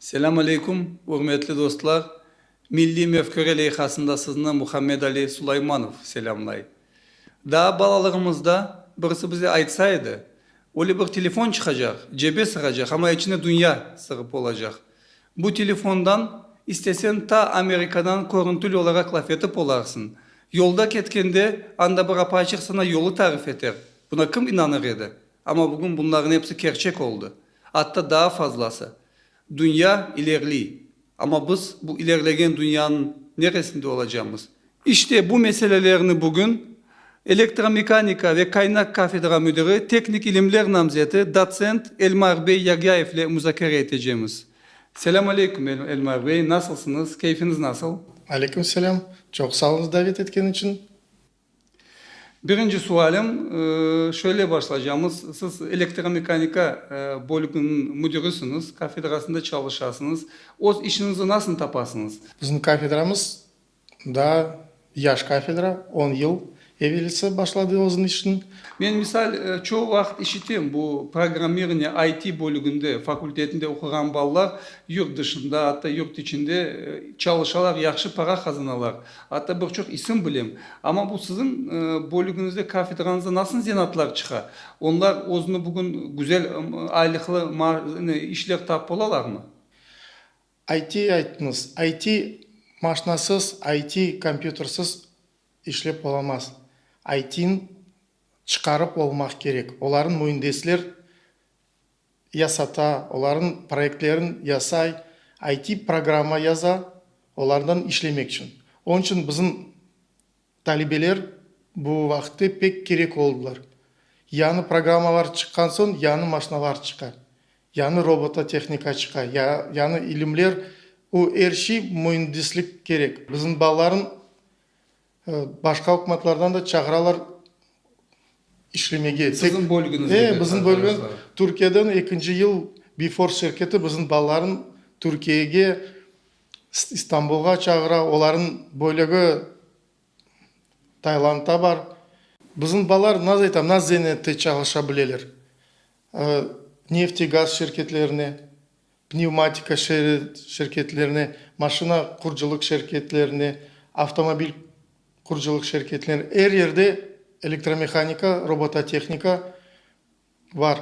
Selâm aleyküm, ürmetli dostlar! Milliy mefküre leyhasında sizni Muhammed Ali Sulaymanov selâmlay. Daa balalığımızda birisi bize aytsa edi, öyle bir telefon çıqacaq, cebe sığacaq, amma içinde dünya sığıp olacaq. Bu telefondan istesen ta Amerikadan körüntülü olaraq laf etip olarsıñ. Yolda ketkende anda bir apaçıq saña yolu tarif eter. Buna kim inanır edi? Amma bugün bunlarnıñ episi kerçek oldı. Atta daa fazlası. Dünya ilerliy. Amma biz bu ilerlegen dünyanıñ neresinde olacamız? İşte bu meselelerni bugün Elektromehanika ve Kaynak kafedra müdiri, teknik ilimler namzeti, dotsent Elmar bey Yagyayevle muzakere etecemiz. Selâm aleyküm, Elmar bey, nasılsıñız, keyfiñiz nasıl? Aleyküm selâm, çoq sağ olunız davet etken içün. Birinci sualim, şöyle başlaycamız, siz Elektromehanika bölüginiñ müdirisiñiz, kafedrasında çalışasıñız. Öz işiñizni nasıl tapasıñız? Bizim kafedramız Daa yaş kafedra, on yıl evelisi başladı özüniñ işini. Men, misal, çoq vaqıt işitem, bu programmirniya, IT, bölüginde, fakultetinde oquğan balalar yurt dışında, atta yurt içinde çalışalar, yahşı para qazanalar. Atta bir çoq isim bilem. Amma bu siziñ bölügiñizde, kafedranızda nasıl zenatlar çıqa? Onlar özüni bugün güzel aylıqlı işler tapıp olalarmı? IT aytmız, IT maşnasız, IT kompyutersız işlep olamaz. ITn çıqarıp olmaq kerek, olarnı müendisler yasata, olarnı proyektlerin yasay, IT programma yaza, olardan işlemek içün. Onıñ içün bizim Talibeler bu vaqıtte pek kerek oldılar. Yañı programmalar çıqqan soñ yañı maşnalar çıqa, yañı robototehnika çıqa, yañı ilimler, o er şey müendislik kerek. Bizim balalarnı başqa ükümetlerden de çağıralar işlemege. Sizin bölgeniz de. Bizim bölge Türkiyeden ekinci yıl Before şirketi bizim balalarnı Türkiyege İstanbulğa çağıra, olarnıñ bölegi Taylandda bar. Bizim balalar, nasıl aytam, nasıl zenette çalışa bileler. Nefti gaz şirketlerine, pnevmatika şirketlerine, maşina qurucılıq şirketlerine, avtomobil qurucılıq şirketlerine, er yerde elektromehanika, robototehnika Var.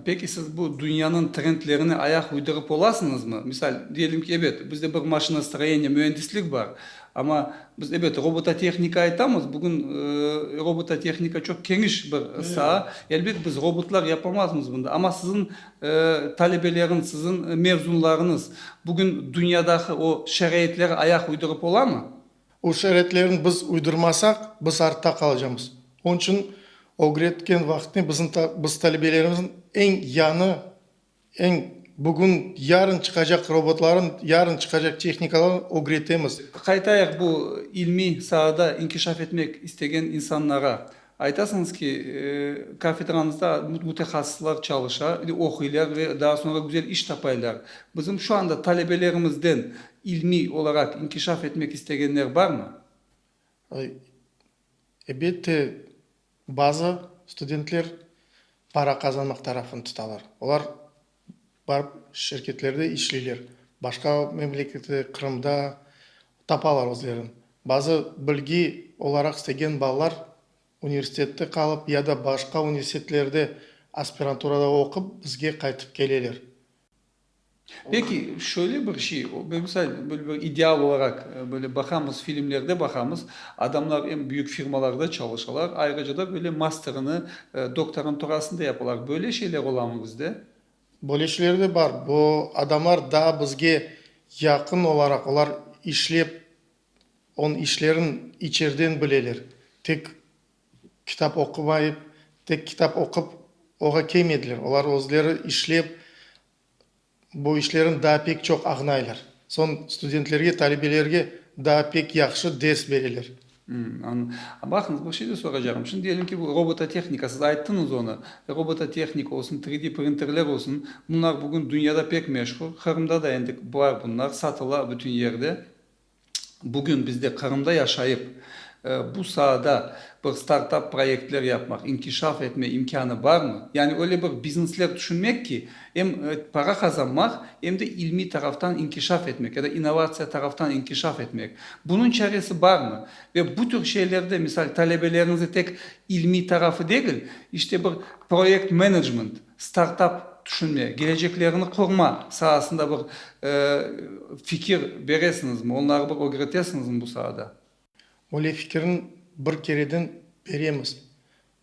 Peki, siz bu dünyanıñ trendlerine ayaq uydırıp olasıñızmı? Misal, diyelim ki, ebet, bizde bir maşinastroyeniye, müendislik bar, amma biz, ebet, robototehnika aytamız, bugün robototehnika çoq keniş bir saa, elbet, biz robotlar yapamazmız bunda. Amma siziñ talebeleriñ, siziñ mezunlarıñız bugün dünyadaki o şaraitlerge ayaq uydırıp olamı? O şaretlerni biz uydurmasaq, biz artta qalacamız. Onıñ içün ögretken vaqıtnı bizim biz talebelerimizniñ eñ yañı, eñ bugün, yarın çıqacaq robotların, yarın çıqacaq tehnikalaran ögretemiz. Qaytayıq bu ilmiy saada inkişaf etmek istegen insanlara. Aytasıñız ki, kafedramızda mütehassıslar çalışa, oquylar ve daa soñra güzel iş tapaylar. Bizim şu anda talebelerimizden ilmiy olaraq inkişaf etmek istegenler barmı? Elbette, bazı studentler para qazanmaq tarafını tutalar. Olar Barıp şirketlerde işleyler. Başqa memlekette, Qırımda tapalar özlerin. Bazı bilgi olaraq istegen balalar universitette qalıp ya da başqa universitetlerde aspiranturada oqup bizge qaytıp keleler. Peki, şöyle bir şey, bemısal, böyle bir ideal olaraq, böyle baqamız, filmlerde baqamız, Adamlar em büyük firmalarda çalışalar, ayrıca da böyle masterini doktoranturasında yapalar. Böyle şeyler olamı bizde? Böyle şeyler de bar. Bu adamlar daa bizge yaqın olaraq, olar işlep, onıñ işlerin içerden bileler. Tek kitap oqumayıp, tek kitap oqup oğa kelmediler. Olar özleri işlep. Bu işlerin daa pek çoq agnaylar. Soñ studentlerge, talebelerge daa pek yahşı ders bereler. Anladım. Baqıñız, bir şey de soracağım. Şimdi diyelim ki, bu robototehnika, siz ayttıñız onı. Robototehnika olsun, 3D printerler olsun, bunlar bugün dünyada pek meşhur. Qırımda da endi bar bunlar, satıla bütün yerde. Bugün bizde Qırımda yaşayıp, bu saada bir startap proyektler yapmaq, inkişaf etme imkânı barmı? Yani öyle bir biznesler tüşünmek ki, em para qazanmaq, em de ilmiy taraftan inkişaf etmek ya da innovatsiya taraftan inkişaf etmek. Bunıñ çaresi barmı? Ve bu tür şeylerde, misal, talebeleriñizde tek ilmiy tarafı degil, işte bir proyekt menecment, Startap tüşünme, geleceklerini qurma saasında bir fikir beresiñizmi, onları bir ögretesiñizmi bu saada? Öyle fikirni bir kereden beremiz.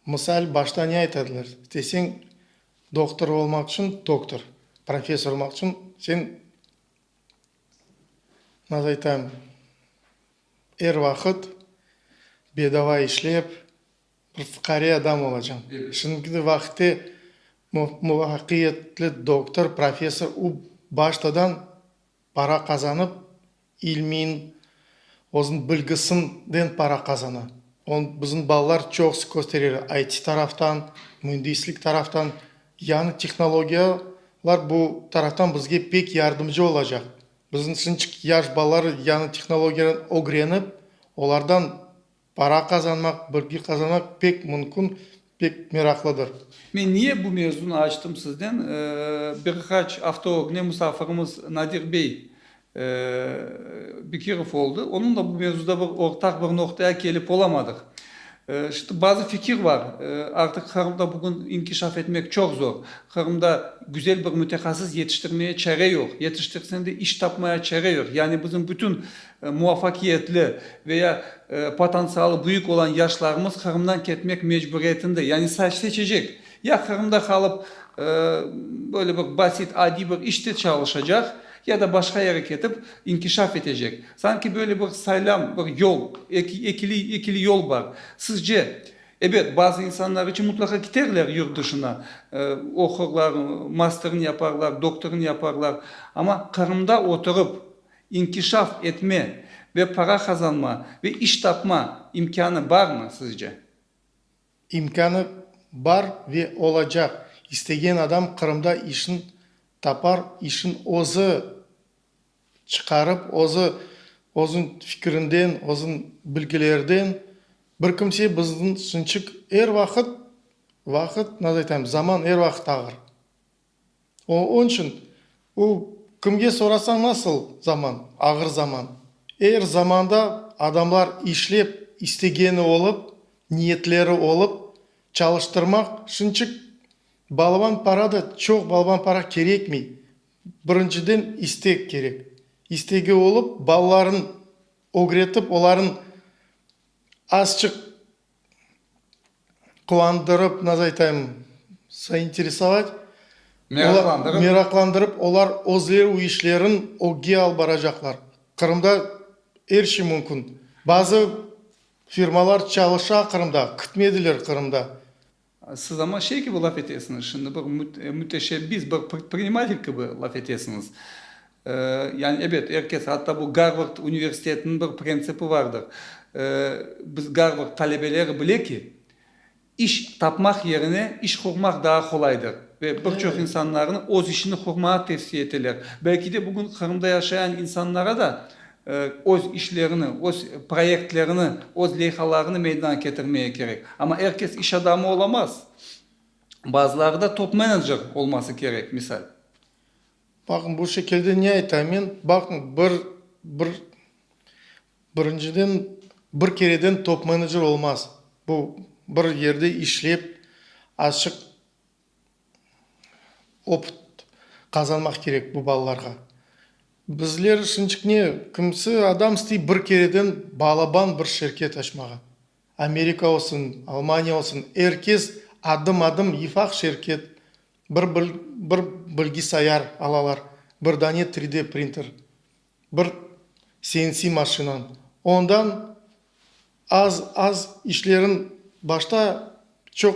Mısal, başta ne aytadılar deseñ, doktor olmaq içün doktor, professor olmaq içün sen, nasıl aytam, er vaqıt bedava işlep, Bir fuqare adam olacam. Şimdiki de vaqıtte muvafaqiyetli doktor, professor, u baştadan para qazanıp, ilmin, özün bilgisinden para qazana. Onı bizim balalar çoqusı kösterer, IT taraftan, müendislik taraftan. Yañı tehnologiyalar bu taraftan bizge pek yardımcı olacaq. Bizim şunıñçik yaş balalar yañı tehnologiyalarnı ögrenip, olardan Para qazanmaq, bilgi qazanmaq pek mümkün, pek meraqlıdır. Men niye bu mevzunı açtım sizden, bir qaç afta ögne musafirimiz Nadir bey Bekirov oldı, onunla bu mevzuda bir ortaq bir noqtaya kelip olamadıq. Şimdi bazı fikir bar, artıq Qırımda bugün inkişaf etmek çoq zor, Qırımda güzel bir mütehassıs yetiştirmeye çare yoq, yetiştirsen de iş tapmaya çare yoq, yani bizim bütün muvafakiyetli ve ya potantsialı büyük olan yaşlarımız Qırımdan ketmek mecburiyetinde, yani seçecek, ya Qırımda qalıp böyle bir basit, adiy bir işte çalışacaq, ya da başqa yere ketip inkişaf etecek. Sanki böyle bir saylam, bir yol, ekili yol bar. Sizce, ebet, bazı insanlar içün mutlaqa kiterler yurt dışına, oqurlar, masterni yaparlar, doktorını yaparlar, amma Qırımda oturup İnkişaf etme ve para qazanma ve iş tapma imkânı barmı sizce? İmkânı bar ve olacaq. İstegen adam Qırımda işin tapar, işin özü çıqarıp, özü, özün fikrinden, özün bilgilerden. Bir kimse bizniñ Sınçık er vaqıt, vaqıt, nazir aytayım, zaman er vaqıt ağır. Oñ içün u, kimge sorasañ nasıl zaman, ağır zaman. Er zamanda adamlar işlep, istegeni olıp, niyetleri olıp, çalıştırmaq, şunçik balban para da, çoq balban para kerekmey. Birinciden istek kerek. İstegi olıp, balalarnı ögretip, olarnı azçıq. Quvandırıp, nasıl aytayım, zainteresovat, olar, meraqlandırıp, olar özleri o işlerin ögge alıp baracaqlar. Qırımda er şey mümkün. Bazı firmalar çalışa Qırımda, kütmediler Qırımda. Siz amma şey kibi laf etesiñiz, şimdi bir müteşebbis, bir predprinimatelь kibi laf etesiñiz. Yani, ebet, er kes, atta bu Garvard universitetiniñ bir prentsipi vardır, biz Garvard talebeleri bile ki, iş tapmaq yerine iş qurmaq daa qolaydır ve bir çoq insanlarnı öz işini qurmağa tevsiye eteler. Belki de bugün Qırımda yaşayan insanlara da Öz işlerini, öz proyektlerini, öz leyhalarını meydana ketirmege kerek. Amma er kes iş adamı olamaz. Bazıları da top-menecer olması kerek, misal. Baqıñ, bu şekilde ne aytam men, baqıñ, bir, bir, birinciden, bir kereden top-menecer olmaz. Bu, bir yerde işlep, açıq Opıt qazanmaq kerek bu balalarğa. Bizler şınçık ne, kimisi adam istiy bir kereden balaban bir şirket açmağa. Amerika olsun, Almaniya olsun, er kes adım-adım yifaq şirket, bir bir bilgisayar alalar, bir dane 3D printer. Bir CNC maşinam, ondan az-az işlerim, başta çoq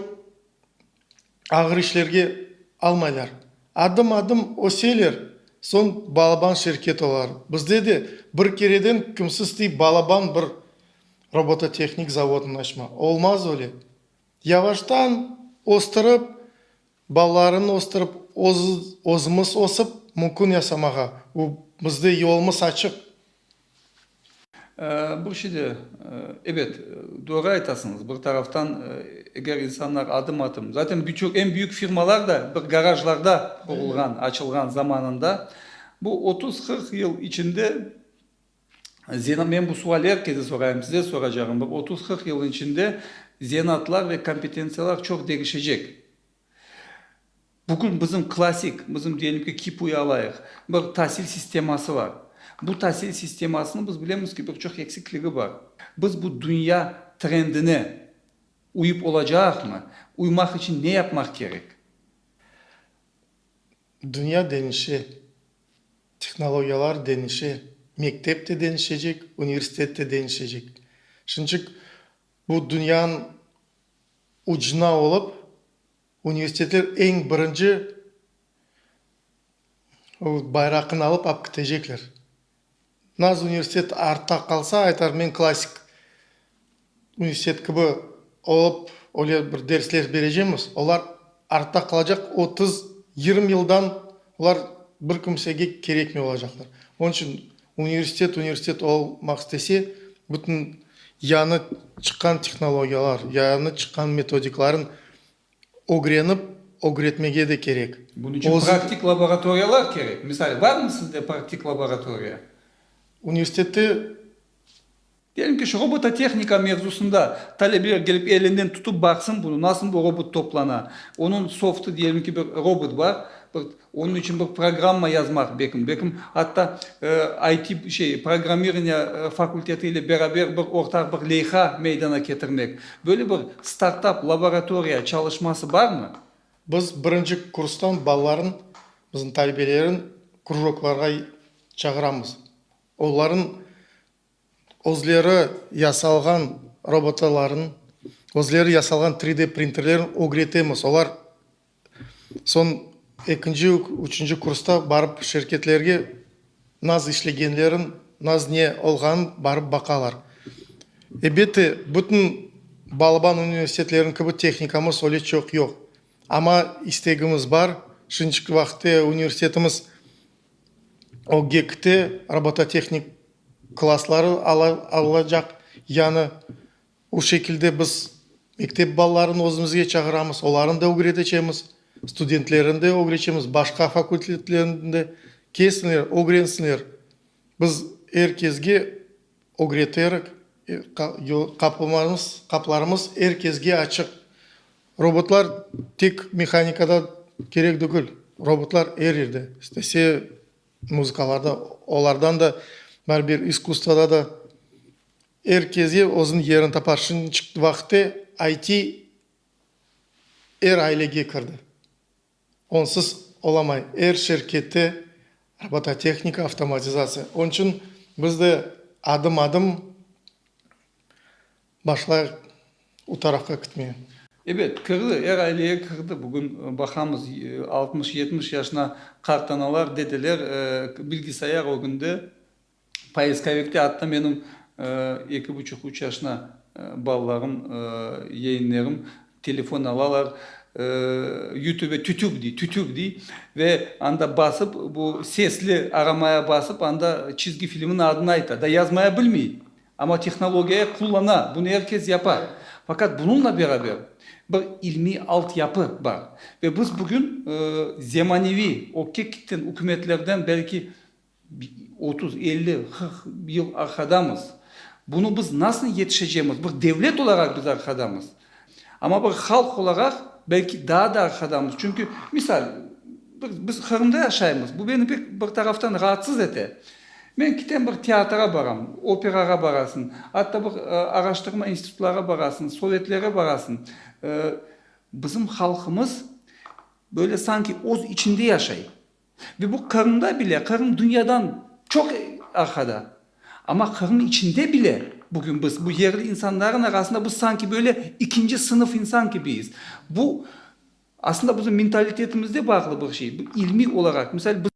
ağır işlerge almaylar. Adım-adım öseler, soñ balaban şirket olar. Bizde de bir kereden kimsiz tey balaban bir robototehnik zavodnı açma. Olmaz öyle. Yavaştan östürip, Balalarını östürip, özümiz ösip, mümkün yasamağa. Bu bizde yolumız açıq. Bir şey de, ebet, doğru aytasıñız, bir taraftan, eger insanlar adım-adım, zaten birçok eñ büyük firmalar da bir garajlarda qurulğan, açılğan zamanında, bu otuz-qırq yıl içinde, Zira men bu sual er kese sorayım, size soracağım, bir otuz, qırq yılnıñ içinde zenaatlar ve kompetentsiyalar çoq degişecek. Bugün bizim klassik, bizim diyelim ki, kipuy alayıq, bir tasil sisteması bar. Bu tasil sistemasınıñ biz bilemiz ki, bir çoq eksikligi bar. Biz bu dünya trendine uyıp olacağıqmı? Uymaq içün ne yapmaq kerek? Dünya deñişe. Tehnologiyalar denişe, mektep te denişecek, universitet te denişecek. Şunçik bu dünyanıñ ucuna olıp, universitetler eñ birinci bayraqını alıp ap kitecekler. Naz universitet artta qalsa, aytar, men klassik Üniversitet kibi olıp, öyle bir dersler berecemiz, olar artta qalacaq, otuz, yirmi yıldan olar bir kimsege kerekmey olacaqlar. Onıñ içün universitet, universitet olmaq istese, bütün yañı çıqqan tehnologiyalar, yañı çıqqan metodiklarnı ögrenip, ögretmege de kerek. Bunıñ içün praktik laboratoriyalar kerek. Misal, barmı sizde praktik laboratoriya? Universitette. Diyelim ki, şu robototehnika mevzusında talebeler kelip elinden tutıp baqsın bunı, nasıl bu robot toplana, onıñ softı, diyelim ki, bir robot bar, bir onıñ içün bir programma yazmaq bekim, bekim atta IT şey programmirniya fakulteti ile beraber bir ortaq bir leyha meydana ketirmek. Böyle bir startap laboratoriya çalışması barmı? Biz birinci kurstan balalarnıñ, bizim talebelerin krujoklarğa çağıramız. Onlarnıñ Özleri yasalğan robotaların, özleri yasalğan 3D printerlerin ögretemiz. Olar soñ ekinci, üçünci kursta barıp şirketlerge naz işlegenlerin, naz ne olğanın barıp baqalar. Ebette, bütün balaban universitetlerniñ kibi tehnikamız öyle çoq yoq. Amma istegimiz bar. Şimdiki vaqıtta universitetimiz OGEKte robototehnik klassları alacaq. Yani o şekilde biz mektep balalarını özümizge çağıramız, olarnı da ögreteceğimiz, studentlerni de ögreteceğimiz, başqa fakultetlerniñ de. Kelsinler, ögrensinler. Biz er kesge. ögreterek, qaplarımız er kesge açıq. Robotlar tek mehanikada kerek degil, robotlar er yerde istese, muzıkalarda, olardan da, bar bir iskustvada da. Er kesge özüniñ yerini tapar. Şunıñ içün vaqıte IT er ailege kirdi. Onsız olamay, er şirkette robototehnika, avtomatizatsiya. Onıñ içün biz de adım-adım başlayıq o tarafqa kitmege. Ebet, kirdi, er aileye kirdi. Bugün baqamız, altmış, yetmiş yaşına qart analar, dedeler bilgisayar ögünde. Poiskovikte atta menim eki buçuq, üç yaşına balalarım, yeğinlerim telefon alalar, Yutube tütük dey, tütük dey, ve anda basıp, bu sesli aramaya basıp, anda çizgi filmniñ adını ayta da yazmaya bilmey, amma tehnologiya qullana, bunı er kes yapa. Faqat bunıñla beraber bir ilmiy alt yapı bar. Ve biz bugün zemaneviy, o kekitten, ükümetlerden belki Otuz, elli, qırq yıl arqadamız. Bunı biz nasıl yetişecemiz? Bir devlet olaraq biz arqadamız. Amma bir halq olaraq belki daa da arqadamız. Çünki, misal, biz Qırımda yaşaymız, bu beni pek bir taraftan raatsız ete. Men kitem bir teatra baram, operağa barasıñ, atta bir araştırma institutlarğa barasıñ, sovetlerge barasıñ. Bizim halqımız böyle sanki öz içinde yaşay. Ve bu Qırımda bile, Qırım dünyadan çoq arqada. Amma Qırım içinde bile bugün biz bu yerli insanların arasında biz sanki böyle ikinci sınıf insan kibiyiz. Bu aslında bizim mentalitetimizde bağlı bir şey. Bu ilmiy olaraq, misal bizim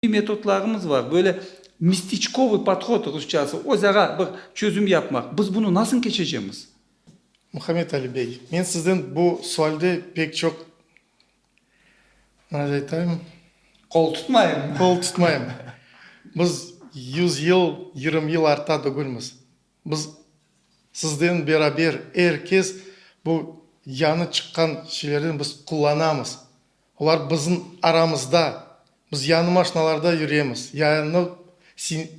ilmiy metodlarımız var. Böyle mestiçkovıy podhod, rusçası, özara bir çözüm yapmaq. Biz bunı nasıl keçecemiz? Muhammed Ali bey, men sizden bu sualde pek çoq Nâş aytayım? Qol tutmayım. Qol tutmayım. Biz yüz yıl, yırım yıl artta tügülmiz. Biz sizden beraber, er kes bu yañı çıqqan şeylerden biz qullanamız. Olar bizim aramızda. Biz yañı maşnalarda yüremiz, yañı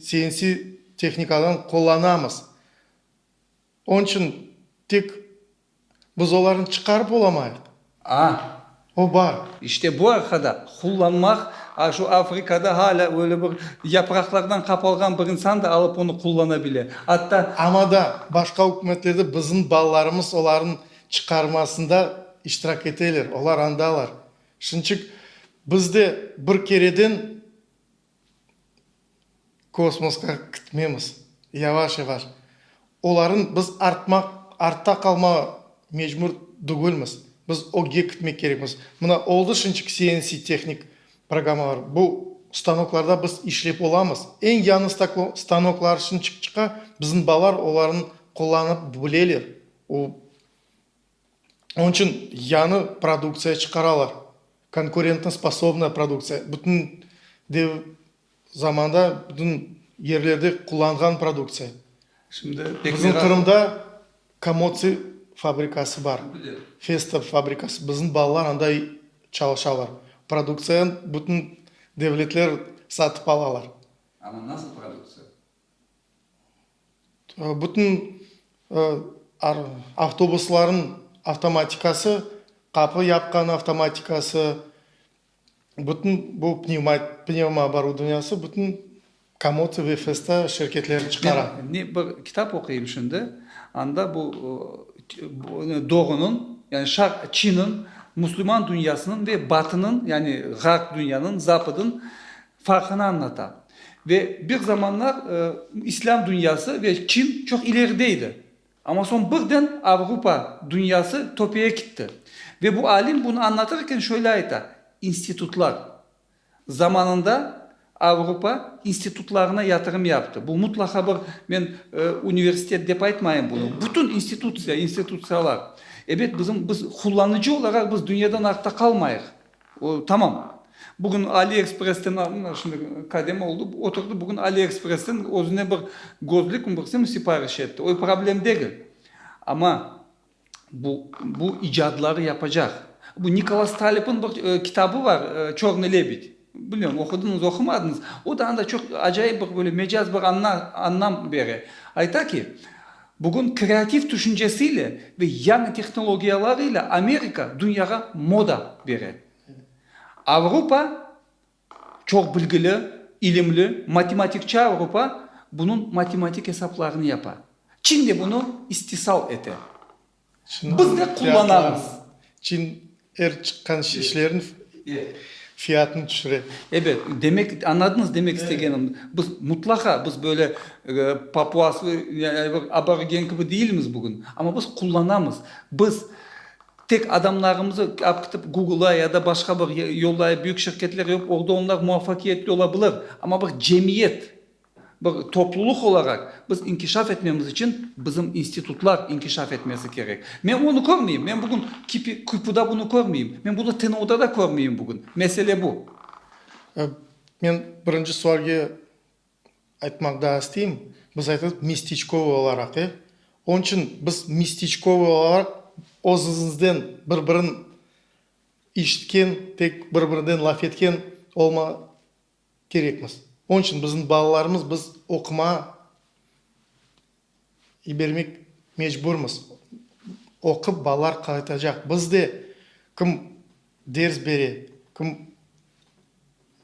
CNC tehnikadan qullanamız. Onıñ içün tek. Biz olarnı çıqarıp olamayıq. A. O bar. İşte bu arqada qullanmaq, a şu Afrikada halâ öyle bir yapraqlardan qapalğan bir insan da alıp onı qullana bile. Atta. Amma da başqa ükümetlerde bizim balalarımız olarnı çıqarmasında iştirak eteler, olar andalar. Şunıçık biz de bir kereden Kosmosqa kitmemiz, yavaş-yavaş. Olarnı biz artmaq, artta qalmağa mecbur degilmiz. Biz ögge kitmek kerekmiz. Mına, oldı şunçik CNC tehnik programmalar. Bu stanoklarda biz işlep olamız. Eñ yañı stanoklar şunçik çıqa, bizim balalar olarnı qullanıp bileler. O. Onıñ içün yañı produktsiya çıqaralar, konkurentno spassobnoye produktsiya, bütün dev zamanda bütün yerlerde qullanğan produktsiya. Şimdi bizim Qırımda Komotsi fabrikası bar, Festa fabrikası, bizim balalar anda çalışalar. Produktsiyanı bütün devletler satıp alalar. Amma nasıl produktsiya? Bütün avtobuslarnıñ avtomatikası, qapı yapqan avtomatikası, bütün bu pnevma oborudovaniyası bütün Komod ve Festa şirketleri çıqara. Men bir kitap oquyım şimdi, anda bu doğunıñ, yani Şarq Çinniñ, Müslüman dünyasınıñ ve Batınıñ, yani Ğarp dünyanıñ, Zapıdnıñ, farqını añlata. Ve bir zamanlar islâm dünyası ve Çin çoq ileride edi. Amma soñ birden Avrupa dünyası töpeye kitti. Ve bu alim bunı añlatırken şöyle ayta, İnstitutlar. Zamanında Avrupa institutlarına yatırım yaptı. Bu mutlaqa bir, men universitet dep aytmayım bunı, bütün institutsiya, institutsiyalar. Ebet, bizim, biz qullanıcı olaraq biz dünyadan artta qalmayıq. O, tamam. Bugün AliExpress'ten aldım, mana şimdi kadem oldı, oturdı, bugün AliExpress'ten özüne bir gözlükmi, bir sim sipariş etti. O, problem degil. Amma bu, bu icadları yapacaq. Bu Nikolas Taleb'in bir kitabı bar, Çörnıy lebed. Bilmem, oqudıñız, oqumadıñız. O da anda çoq acayip bir böyle mecaz bir anlam bere. Ayta ki, Bugün kreativ tüşüncesiyle ve yañı tehnologiyalarıyla Amerika dünyağa moda bere. Avrupa, çoq bilgili, ilimli, matematikçi Avrupa bunıñ matematik esaplarını yapa, çin de bunı istisal ete. Biz ne qullanamız? Çin er çıqqan işlerin fiyatını tüşüre. Ebet, demek, añladınız demek istegenim? Biz mutlaqa, biz böyle papuas ve aborigen kibi deyilmiz bugün, amma biz qullanamız. Biz tek adamlarımızı alıp ketip Google'a ya da başqa bir yolda, büyük şirketler, orda onlar muvafakiyetli olabilir, amma bir cemiyet, Bir toplulıq olaraq biz inkişaf etmemiz içün bizim institutlar inkişaf etmesi kerek. Men onı körmeyim, men bugün QİPUda bunı körmeyim, men bunı TNUda da körmeyim bugün. Mesele bu. Men birinci sualge aytmaq daa isteyim. Biz aytırıq mestçkovıy olaraq, e? Onıñ içün biz mestçkovıy olaraq özümizden bir-birin işitken, tek bir-birinden laf etken kerekmiz. Onıñ içün bizim balalarımız biz oqumağa yibermek mecburmız. Oqup balalar qaytacaq. Biz de kim ders bere, kim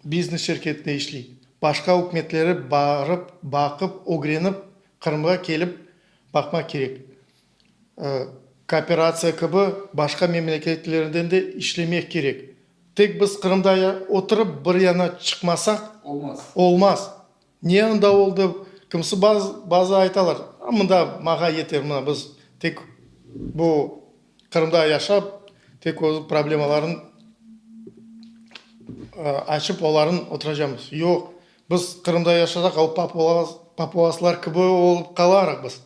biznes şirketinde işley, başqa ükümetleri barıp, baqıp, ögrenip, Qırımğa kelip baqmaq kerek. Kooperatsiya kibi başqa memleketlerden de işlemek kerek. Tek biz Qırımda oturıp bir yana çıqmasaq, olmaz. Ne anda oldı, kimisi bazı aytalar, mında mağa yeter, mına biz tek bu Qırımda yaşap, tek öz problemalarını açıp olarnı oturacamız. Yoq, biz Qırımda yaşasaq, o papuvaslar kibi olıp qalarıq biz.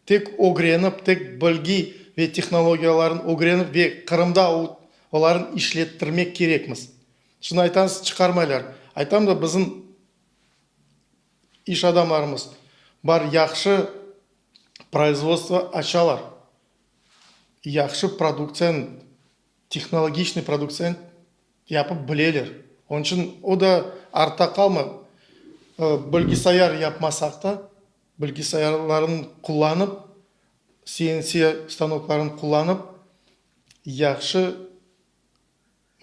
Tek ögrenip, tek bilgi ve tehnologiyalarnı ögrenip ve Qırımda olarnı işlettirmek kerekmiz. Şimdi aytasız, çıqarmaylar. Aytam da, bizim iş adamlarımız bar, yahşı proizvodstvo açalar, yahşı produktsiyanı, tehnologiçnıy produktsiyanı yapıp bileler. Onıñ içün o da artta qalmay, bilgisayar yapmasaq da, Bilgisayarlarnı qullanıp, CNC stanoklarnı qullanıp, yahşı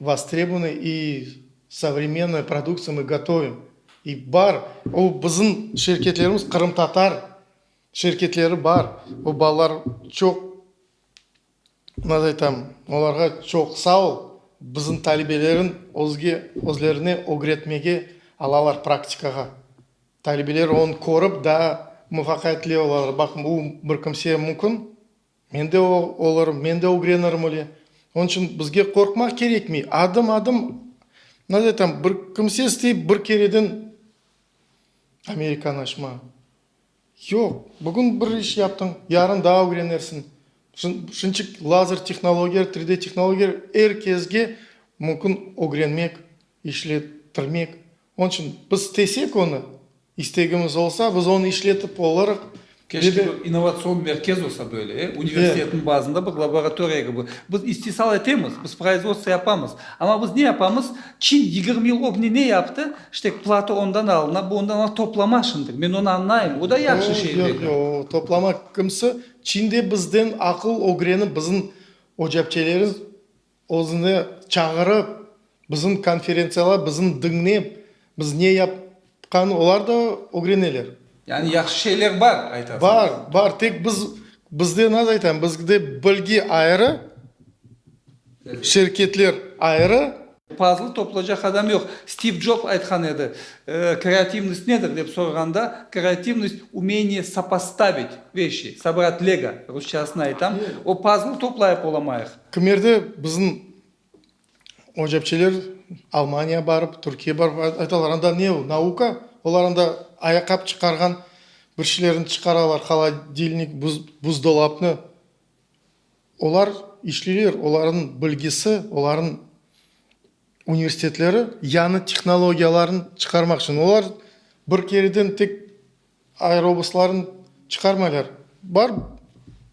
vostrebunıy i sovremennoy produktsiya mı gotovim. İ bar, o bizim şirketlerimiz qırımtatar şirketleri bar, o balalar çoq. Maz aytam, olarğa çoq sağ ol, bizim talibelerim özge özlerine ögretmege alalar praktikağa. Talibeler onı körip daa muvafaqiyetli olalar, baqın u bir kimseye mümkün, men de olırım, men de ögrenirim öyle. Onıñ içün bizge qorqmaq kerekmey, adım adım, maz aytam, bir kimse istey bir kereden Amerikanı açma. Yoq, bugün bir iş yaptıñ, yarın daa ögrenersiñ. Şunçe ki, lazer tehnologiyaları, 3D tehnologiyaları er kezge mümkün ögrenmek, işletirmek. Onıñ içün biz istesek onı, istegimiz olsa, biz onı işletip olarıq. Keşke bir innovatsion merkez olsa böyle, e, universitetniñ bazında bir laboratoriya kibi. Biz istisal etemiz, biz proizvodstvo yapamız, amma biz ne yapamız? Çin yigirmi yıl ögne ne yaptı? İşte Plato ondan alına, bu ondan alına, toplama şimdi. Men onı añlayım, o da yahşı şey dedi. Yoq, yoq, o toplama kimsi? Çinde bizden aqıl ögrenip, bizim ocapçelerimiz özüne çağırıp, bizim konferentsiyalar, bizim diñlep, biz ne yap, Qani, olar da ögreneler. Yani yahşı şeyler bar, aytasıñız. Bar, bar. Tek biz, bizde nasıl aytam, bizde bilgi ayrı, şirketler ayrı. Pazlı toplacaq adam yoq. Stiv Job aytqan edi, kreativnost nedir dep sorğanda, kreativnost, umeniye sopostavit veşi, sobrat lego, rusçasını aytam, o pazlı toplayıp olamayıq. Kimerde bizim O cepçeler Almaniya barıp, Türkiye barıp aytalar, anda ne o, nauka? Olar anda ayaqap çıqarğan bir şeylerni çıqaralar, holodilnik, buzdolapnı. Olar işleyler, olarnıñ bilgisi, olarnıñ universitetleri yañı tehnologiyalarnı çıqarmaq içün. Olar bir kereden tek. Aerobuslarnı çıqarmaylar. Bar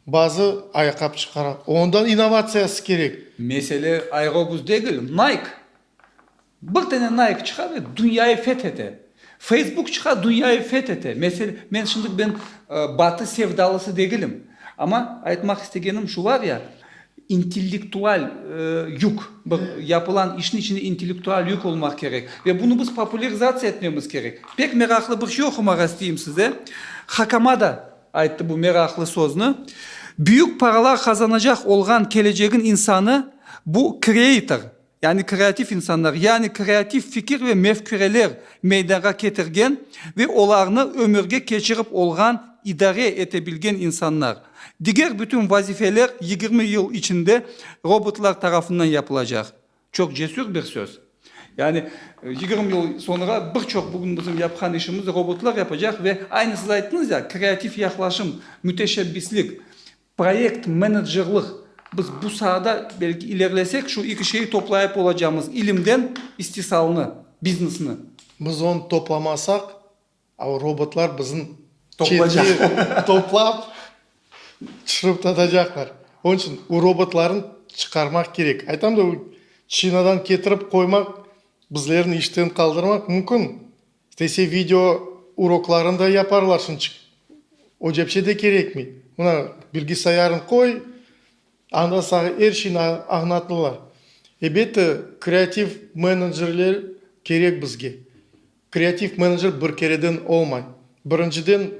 bazı ayaqqabı çıqara. Ondan innovatsiyası kerek. Mesele aerobus degil, Nike! Bir tane Nike çıqa ve dünyayı feth ete. Facebook çıqa, dünyayı feth ete. Mesel, men şimdi ben Batı sevdalısı degilim. Amma aytmaq istegenim şu var ya, İntellektual yük, bir yapılan işniñ içinde intellektual yük olmaq kerek. Ve bunı biz popularizatsiya etmemiz kerek. Pek meraqlı bir şey oqumağa isteyim size. Hakama da ayttı bu meraqlı sözni, Büyük paralar qazanacaq olğan kelecegiñ insanı, bu kreator. Yani kreativ insanlar, yani kreativ fikir ve mefküreler meydanğa ketirgen ve olarnı ömürge keçirip olğan, idare ete bilgen insanlar. Diger bütün vazifeler yigirmi yıl içinde robotlar tarafından yapılacaq. Çoq cesür bir söz. Yani yigirmi yıl soñra bir çoq bugün bizim yapqan işimizni robotlar yapacaq ve aynı siz ayttıñız ya, kreativ yahlaşım, müteşebbislik, Proyekt menedjerlıq, biz bu saada belki ilerlesek şu iki şeyi toplayıp olacağımız, ilimden istisalnı, biznesni. Biz onı toplamasaq, a o robotlar bizim çetki toplap tüşürip tatacaqlar. Onıñ içün o robotlarnı çıqarmaq kerek. Aytam da, o çinadan ketirip qoymaq, bizlerni işten qaldırmaq mümkün. İstese video uroklarını da yaparlar, şunıñ içün o cepçe de kerekmey. Mına bilgisayarıñ qoy, anda saña er şeyni añlatırlar. Ebette, kreativ menecerler kerek bizge. Kreativ menecer bir kereden olmay. Birinciden,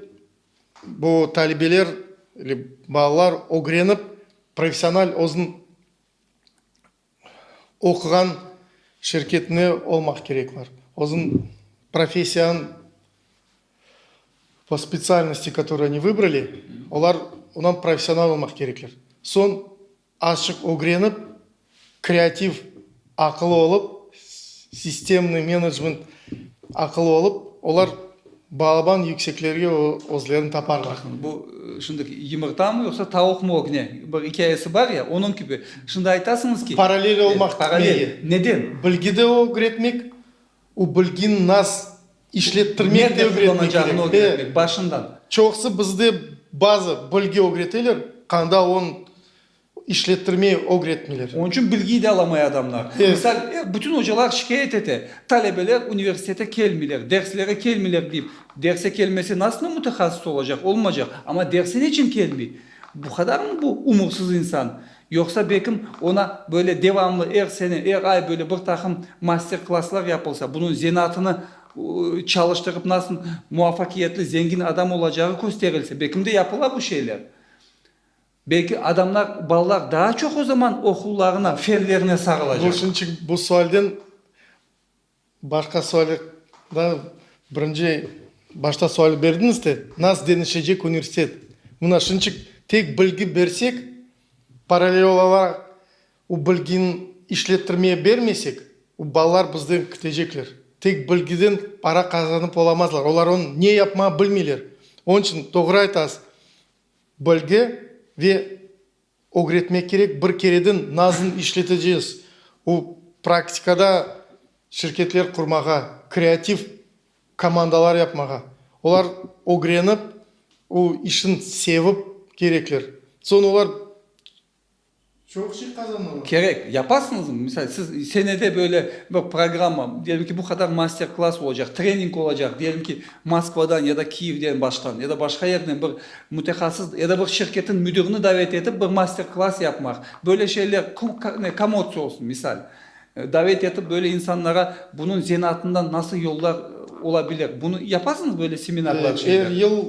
bu talebeler, balalar ögrenip, professional özüniñ Oquğan şirket ne olmaq kerek var? Özün professiyan po spetsialnosti, katorıy oni vıbrali, olar ondan professional olmaq kerekler. Soñ azçıq ögrenip, kreativ aqılı olıp, sistemniy menecment aqılı olıp, olar Balaban yükseklerge özlerini taparlar. Bu şimdi yımırtamı yoqsa tavuqmı o gine bir ikâyesi bar ya onıñ kibi şimdi aytasıñız ki. Paralel olmaq paralel neden? Bilgi de ögretmek u bilgini nas işlettirmek de ögretmek kerek başından. Çoqsı bizde bazı bilgi ögreteler qanda on İşlettirmey, ögretmeyler. Onıñ içün bilgiyi de alamay adamlar. Misal, bütün ocalar şikâyet ete, talebeler universitete kelmeyler, derslere kelmeyler deyip. Derse kelmese, nasılnen mütehassıs olacaq? Olmacaq. Amma derse neçün kelmey? Bu qadarmı bu umursız insan? Yoqsa belkim ona böyle devamlı er sene, er ay böyle bir taqım master klasslar yapılsa, bunıñ zenaatını çalıştırıp nasıl muvafakiyetli, zengin adam olacağı kösterilse, belkim de yapıla bu şeyler. Belki adamlar, balalar daa çoq o zaman oqullarına, fenlerine sağılacaq. Bunıñ içün bu sualden başqa suali da birinci başta suali berdiñiz te, nas denişecek universitet? Mına şunıñ içün tek bilgi bersek, parallel olaraq o bilgini işlettirmeye bermesek, o balalar bizden kütecekler. Tek bilgiden para qazanıp olamazlar. Olar onı ne yapmağı bilmeyler. Onıñ içün doğru aytasız, Bilgi ve ögretmek kerek, bir kereden nazın işleteceğiz, o praktikada şirketler qurmağa, kreativ komandalar yapmağa, olar ögrenip, o işin sevip kerekler, soñ olar. Çoq şey qazanıla. Kerek. Yaparsıñızmı? Misal, siz senede böyle bir programma, diyelim ki, bu qadar master-klass olacaq, trening olacaq, diyelim ki, Moskvadan ya da Kiyevden başqan, ya da başqa yerden bir mütehassıs, ya da bir şirketiñ müdirini davet etip bir master-klass yapmaq. Böyle şeyler kam otsı olsun, misal. Davet etip böyle insanlara bunıñ zenaatından nasıl yollar ola bilir, bunı yaparsıñız böyle seminarlar, şeyler? Er yıl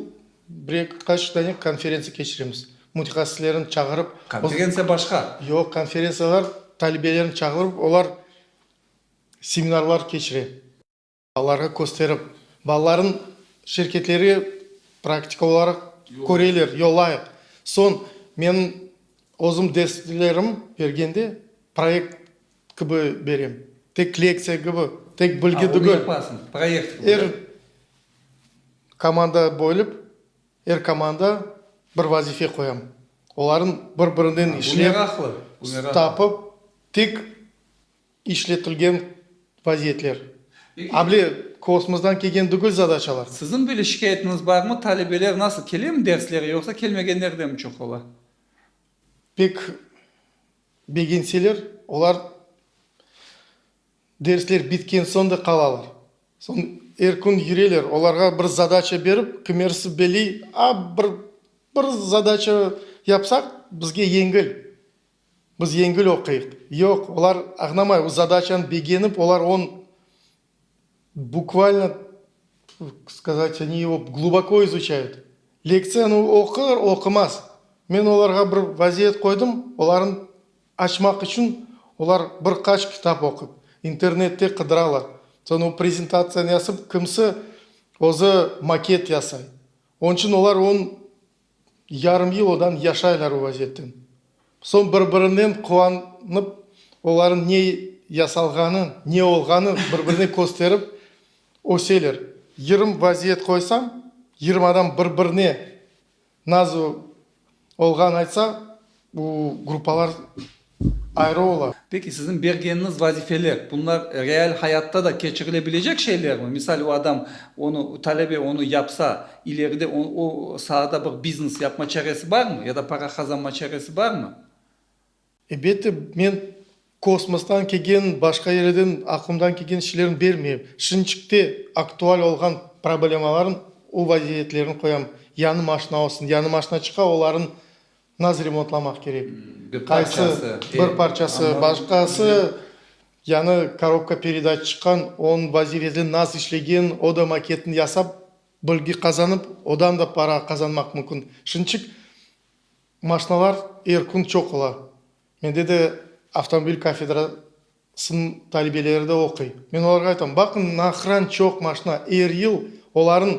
Birkaç dane konferentsiya keçiremiz, mütehassıslarnı çağırıp. Konferentsiya başqa. Yoq, konferentsiyalar talebelerni çağırıp, olar seminarlar keçire. Balalarğa kösterip, balalarnıñ şirketleri praktika olaraq köreler, yollayıq. Soñ, menim özüm derslerim bergende proyekt Kibi berem. Tek lektsiya kibi, tek bilgi tügül. Aa, onu yapasıñız, proyekt kibi. Er komanda bölip, er komanda bir vazife qoyam. Olarnı bir-birinden işlep. Bu meraqlı, bu meraqlı. Tapıp, tek işletilgen vaziyetler. A bile kosmosdan kelgen tügül zadaçalar. Siziñ böyle şikâyetiñiz barmı, talebeler nasıl, kelemi derslere, yoqsa kelmegenler de mi çoq ola? Pek Begenseler, olar dersler bitken soñ da qalalar. Soñ er kün yüreler, olarğa bir zadaça berip, kimerisi beliy, a, bir, bir zadaça yapsaq, bizge yengil, biz yengil oquyıq. Yoq, olar añnamay, o zadaçanı begenip, olar on. Bukvalno skazat, oni o gluboko izuçayıt. Lektsiyanı oqır, oqımaz. Men olarğa bir vaziyet qoydım, olarnı açmaq içün olar bir qaç kitap oqıp, internette qıdıralar. Soñ o prezentatsiyanı yasıp, kimisi özü maket yasay. Onıñ içün olar onı Yarım yıl odan yaşaylar o vaziyetten. Soñ bir-birinen quvanıp, olarnıñ ne yasalğanı, ne olğanı bir-birine kösterip öseler. Yırım vaziyet qoysañ, yırım adam bir-birine nazı olğanı aytsa, Bu gruppalar ayrı ola. Peki, siziñ bergeniñiz vazifeler, bunlar real hayatta da keçirilebilecek şeylermi? Misal, o adam onı, talebe onı yapsa, ileride o o saada bir biznes yapma çaresi barmı? Ya da para qazanma çaresi barmı? Elbette, men kosmostan kelgen, başqa yerlerden aqlımdan kelgen şeylerni bermeyim. Şirinçikte aktual olğan problemalarnıñ o vaziyetlerini qoyam. Yañı maşina olsun, yañı maşina çıqa, olarnıñ Nasıl remontlamaq kerek? Qaysı? Bir parçası, başqası, yani korobka peredaç çıqqan, onıñ vazifesi nasıl işlegen, o da maketini yasap, bilgi qazanıp, odan da para qazanmaq mümkün. Şunıñçik maşinalar er kün çoq ola. Mende de avtomobil kafedrasınıñ talibeleri de oquy. Men olarğa aytam, baqıñ, nahran çoq maşina, er yıl olarnıñ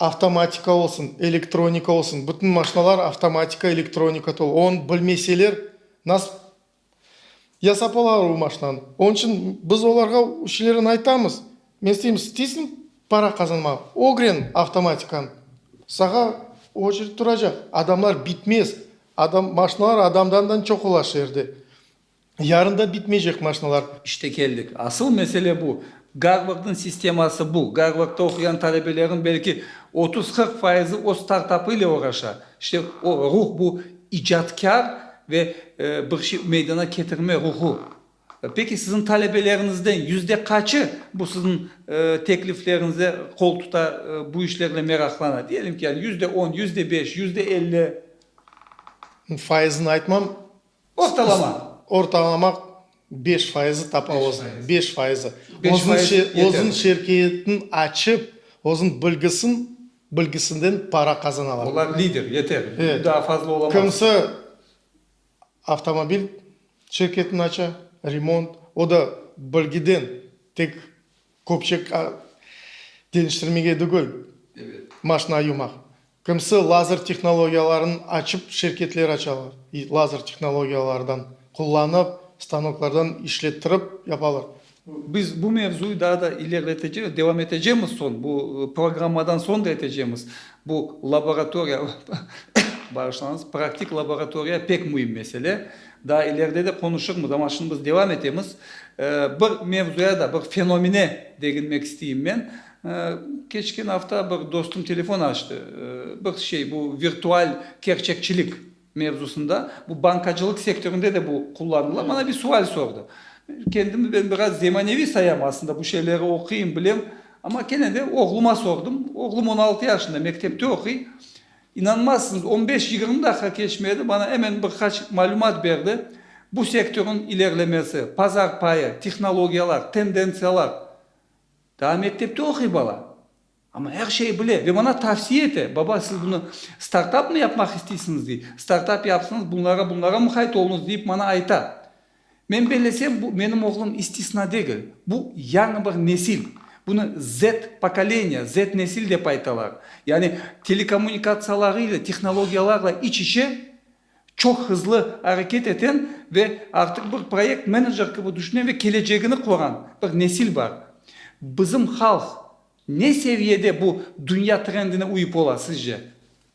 Avtomatika olsun, elektronika olsun, bütün maşinalar avtomatika, elektronika tolu. Onı bilmeseler, nasıl yasap olalar o maşinanı? Onıñ içün biz olarğa üşülerine aytamız, men isteyim, isteysiñ para qazanmağa, ögren avtomatikanı. Sağa oçered turacaq, adamlar bitmez. Adam, maşinalar adamdan da çoq ola şeerde. Yarın da bitmeycek maşnalar. İşte keldik. Asıl mesele bu. Garvardnıñ sisteması bu. Garvardta oquyan talebeleriñ belki otuz-qırq fayızı öz startapı ile oğraşa. İşte o ruh bu icatkâr ve bir şey meydana ketirme ruhu. Peki siziñ talebeleriñizden yüzde qaçı bu siziñ teklifleriñize qol tuta, bu işlerle meraqlana? Diyelim ki, yani yüzde on, yüzde beş, yüzde elli? Fayızını aytmam. Ortalama. Ortalamaq beş fayızı tapa özüni, beş fayızı. Beş fayız yeterli. Özün şirketin açıp, özün bilgisin, bilgisinden para qazanalar. Olar lider, yeter. Evet. Daa fazla olamaz. Kimisi avtomobil şirketini aça, remont, o da bilgiden, tek köpçek deñiştirmege degil, maşina yumaq. Kimsi lazer tehnologiyalarını açıp şirketler açalar, lazer tehnologiyalardan qullanıp, stanoklardan işlettirip yapalar. Biz bu mevzuyı daa da ilerletecemiz, devam etecemiz soñ, bu programmadan soñ da etecemiz. Bu laboratoriya, bağışlañız, praktik laboratoriya pek müim mesele. Daa ileride de qonuşırmız, amma şimdi biz devam etemiz. Bir mevzuya da, bir fenomene deginmek isteyim men. Keçken afta bir dostum telefon açtı, bir şey, bu virtual kerçekçilik mevzusında, bu bankacılıq sektöründe de bu qullanıla, bana bir sual sordı. Kendimi ben biraz zemaneviy sayam aslında, bu şeyleri oquyım, bilem, amma kene de oğluma sordım, oğlum on altı yaşında, mektepte oquy. İnanmazsıñız, on beş, yigirmi daqiqa keçmedi, bana emen bir qaç malümat berdi, bu sektörniñ ilerlemesi, pazar payı, tehnologiyalar, tendentsiyalar. Daa mektepte oquy bala, amma er şeyi bile ve maña tavsiye ete, Baba, siz bunı startapmı yapmaq isteysiñiz? dey. Startap yapsıñız, bunlara, bunlara muqayt oluñız, deyip maña ayta. Men bellesem, bu menim oğlum istisna degil. Bu, yañı bir nesil. Bunı Z pokoleniya, Z nesil dep aytalar. Yani telekommunikatsiyalarıyla, tehnologiyalarla iç-içe Çoq hızlı areket eten ve artıq bir proyekt menecer kibi tüşünen ve kelecegini quran bir nesil bar. Bizim halq ne seviyede bu dünya trendine uyıp ola, sizce?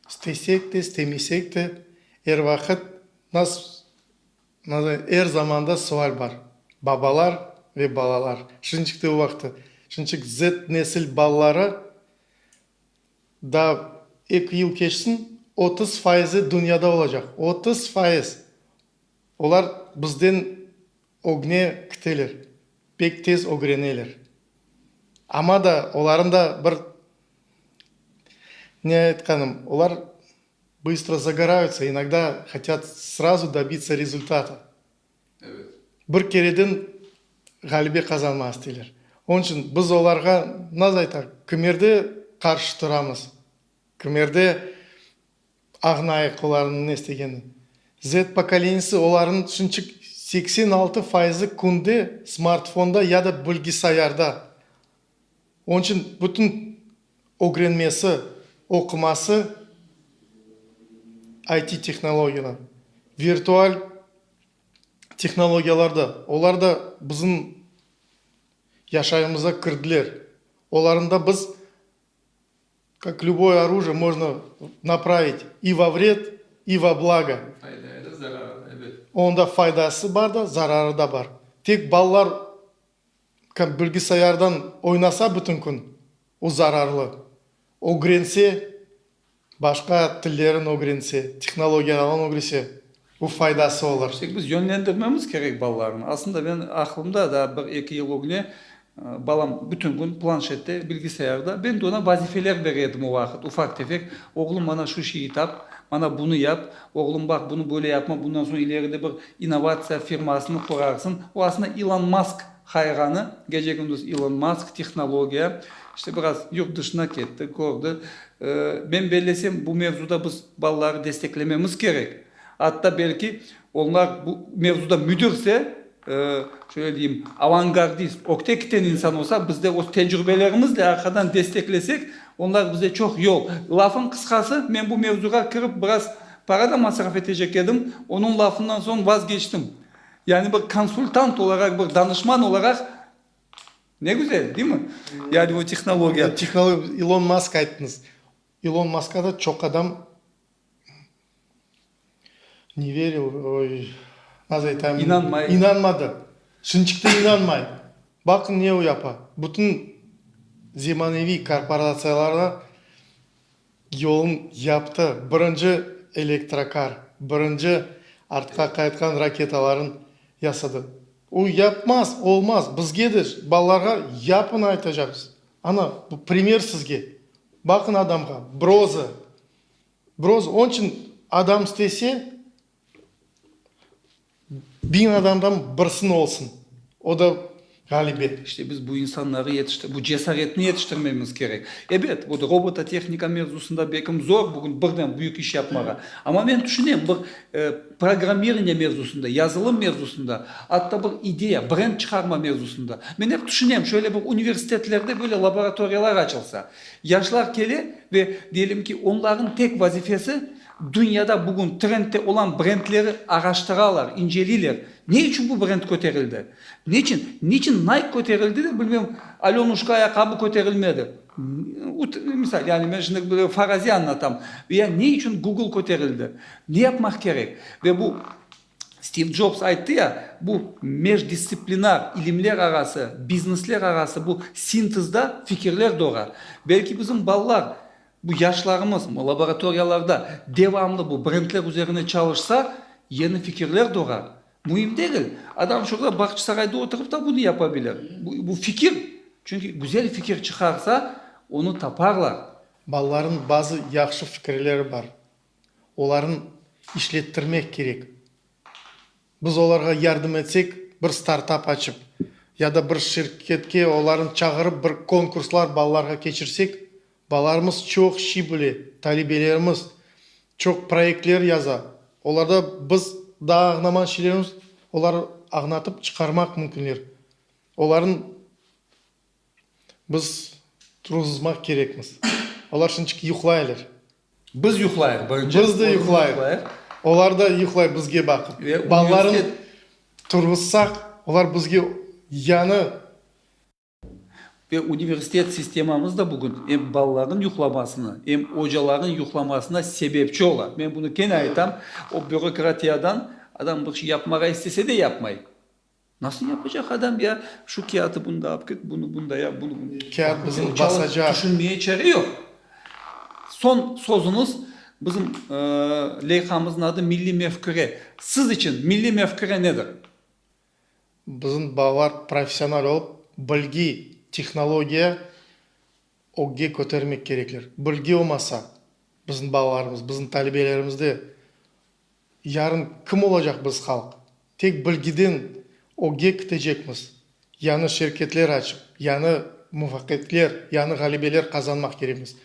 İstesek de, istemesek de, er vaqıt, nas, nazı, er zamanda sual bar, babalar ve balalar. Şirinçik de o vaqıtı, şirinçik Z nesil balaları Daa eki yıl keçsin, otuz fayızı dünyada olacaq. Otuz fayız! Olar bizden ögne kiteler, pek tez ögreneler. Amma da olarnıñ da bir, ne aytqanım, olar bıstro zagorayutsa, inogda hotât srazu dobitsa rezultata. Bir kereden ğalebe qazanmaq isteyler. Onıñ içün biz olarğa nasıl aytaq, kimerde qarşı turamız, kimerde ağnayıq olarnıñ ne istegenine. Z pokoleniyesi, olarnıñ tüşünçik seksen altı fayızı künde smartfonda ya da bilgisayarda. Onıñ içün bütün ögrenmesi, oquması IT tehnologiyalar, virtual tehnologiyalarda. Olar da bizim yaşayımıza kirdiler. Olarında biz, kak lüboy orujiye, možno napravit i vo vred, i vo blago. Onda faydası bar da, zararı da bar. Tek balalar Kim bilgisayardan oynasa bütün kün, o zararlı. Ögrense, başqa tillerin ögrense, tehnologiyalardan ögrese, o faydası olur. Tek biz yönlendirmemiz kerek balalarnı. Aslında men aqlımda daa bir eki yıl ögne balam bütün kün planşette, bilgisayarda. Ben de ona vazifeler berer edim o vaqıt, ufaq tefek. Oğlum, mana şu şeyi tap, mana bunı yap, oğlum, baq, bunı böyle yapma, bundan soñ ileride bir İnnovatsiya firmasını qurarsıñ. O, asında, İlon Mask hayranı. Gece-gündüz İlon Mask, tehnologiya. İşte, biraz yurt dışına ketti, kördi. Men bellesem, bu mevzuda biz balaları desteklememiz kerek. Atta, belki, onlar bu mevzuda müdirse, şöyle deyim, avangardist, ökte kiten insan olsa, biz de öz tecrübelerimizle arqadan desteklesek, onlar bize çoq yol. Lafıñ qısqası, men bu mevzuğa kirip, biraz Para da masraf etecek edim, onıñ lafından soñ vazgeçtim. Yani bir konsultant olaraq, bir danışman olaraq, ne güzel, değil mi? Yani bu tehnologiya. Tehnologiya, İlon Mask ayttıñız. İlon Mask'a da çoq adam ne veril, oy, nasıl aytayım? İnanmay. İnanmadı. Şimdi çıqtı inanmay. Baqıñ, ne o yapa. Bütün zemaneviy korporatsiyalarda. Yolun yaptı, birinci elektrokar, birinci artqa qaytqan raketaların yasadı. O, yapmaz, olmaz, bizge de, balalarğa yapın aytacaqız. Ana, bu primer sizge. Baqın adamğa, broza. Broza, onıçın adam istese, Biñ adamdan birsini olsun, o da ğalibe. İşte biz bu insanları yetiştirmemiz, bu cesaretni yetiştirmemiz kerek. Ebet, bu robototehnika mevzusında belki zor bugün birden büyük iş yapmağa. Amma men tüşünem, bir programmirniye mevzusında, yazılım mevzusında, atta bir ideya, brend çıqarma mevzusında. Men ep tüşünem, şöyle bir universitetlerde böyle laboratoriyalar açılsa. Yaşlar kele ve diyelim ki, onların tek vazifesi, Dünyada bugün trendte olan brendleri araştıralar, inceleyler. Ne içün bu brend köterildi? Neçün? Neçün Nike köterildi de, bilmem, Alönuşka ayaqqabı köterilmedi? Misal, yani men şimdi bir faraziy añlatam. Ya ne içün Google köterildi? Ne yapmaq kerek? Ve bu Stiv Jobs ayttı ya, bu mejdistsiplinar, ilimler arası, biznesler arası bu sintezda fikirler doğar. Belki bizim balalar Bu yaşlarımız laboratoriyalarda devamlı bu brendler üzerine çalışsa, yeni fikirler doğar. Müim degil, adam şurda Bağçasarayda oturıp da bunı yapabilir. Bu fikir, çünki güzel fikir çıqarsa, onı taparlar. Balalarnıñ bazı yahşı fikirleri bar, olarnı işlettirmek kerek. Biz olarğa yardım etsek, bir startap açıp, ya da bir şirketke olarnı çağırıp bir konkurslar balalarğa keçirsek, balalarımız çoq şey bile, talebelerimiz çoq proyektler yaza, olarda biz daa añnaman şeylerimiz olar añnatıp çıqarmaq mümkünler, olarnı Biz turğuzmaq kerekmiz. Olar şunçık yuqlaylar. Biz yuqlayıq birinci. Biz de yuqlayıq. Olar da yuqlay bizge baqıp. Balalarını turğuzsaq, olar bizge yanı. Ve universitet sistemamız da bugün em balalarnıñ yuqlamasına, em ocalarnıñ yuqlamasına sebepçi ola. Men bunı kene aytam, o bürokratiyadan adam bir şey yapmağa istese de yapmay. Nasıl yapacaq adam ya? Şu kâğıtı bunda alıp git, bunu bunda yap, bunu bunda yap. Kâğıt bizim basacaq. Tüşünmeye çare yoq. Soñ sözümiz, bizim leyhamızın adı milliy mefküre. Siz içün milliy mefküre nedir? Bizim balalar professional olıp, bilgi, tehnologiya ögge kötermek kerekler. Bilgi olmasa, bizim balalarımız, bizim talebelerimizde Yarın kim olacaq biz halq? Tek bilgiden ögge kitecekmiz. Yañı şirketler açıp, yañı muvaqetler, yañı ğalebeler qazanmaq kerekmiz.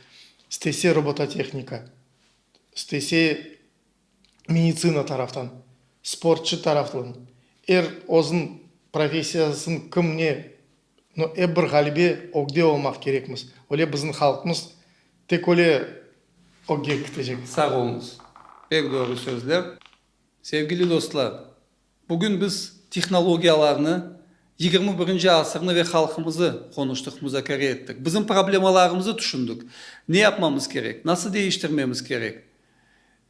İstese robototehnika, istese meditsina taraftan, sportçı taraftan, er özün professiyasın kim ne No, ep bir ğalibe ögde olmaq kerekmiz. Öyle biziñ halqımız tek öyle ögge kitecek. Sağ oluñız. Pek doğru sözler. Sevgili dostlar, bugün biz tehnologiyalarnı, yigirmi birinci asırnı ve halqımızı qonuştıq, muzakere ettik. Biziñ problemalarımızı tüşündik. Ne yapmamız kerek, nasıl deñiştirmemiz kerek?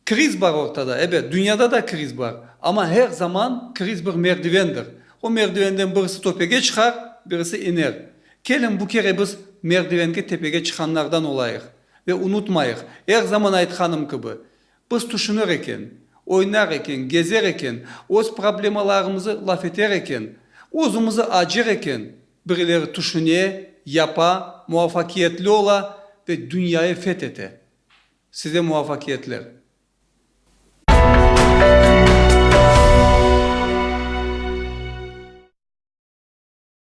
Kriz bar ortada, ebet, dünyada da kriz bar, amma her zaman kriz bir merdivendir. O merdivenden birisi töpege çıqar, birisi iner. Keliñ, bu kere biz merdivenge tepege çıqanlardan olayıq. Ve unutmayıq, er zaman aytqanım kibi, biz tüşünir eken, oynar eken, gezer eken, öz problemalarımızı laf eter eken, özümizi acır eken, birileri tüşüne, yapa, muvafakiyetli ola ve dünyayı feth ete. Size muvafakiyetler.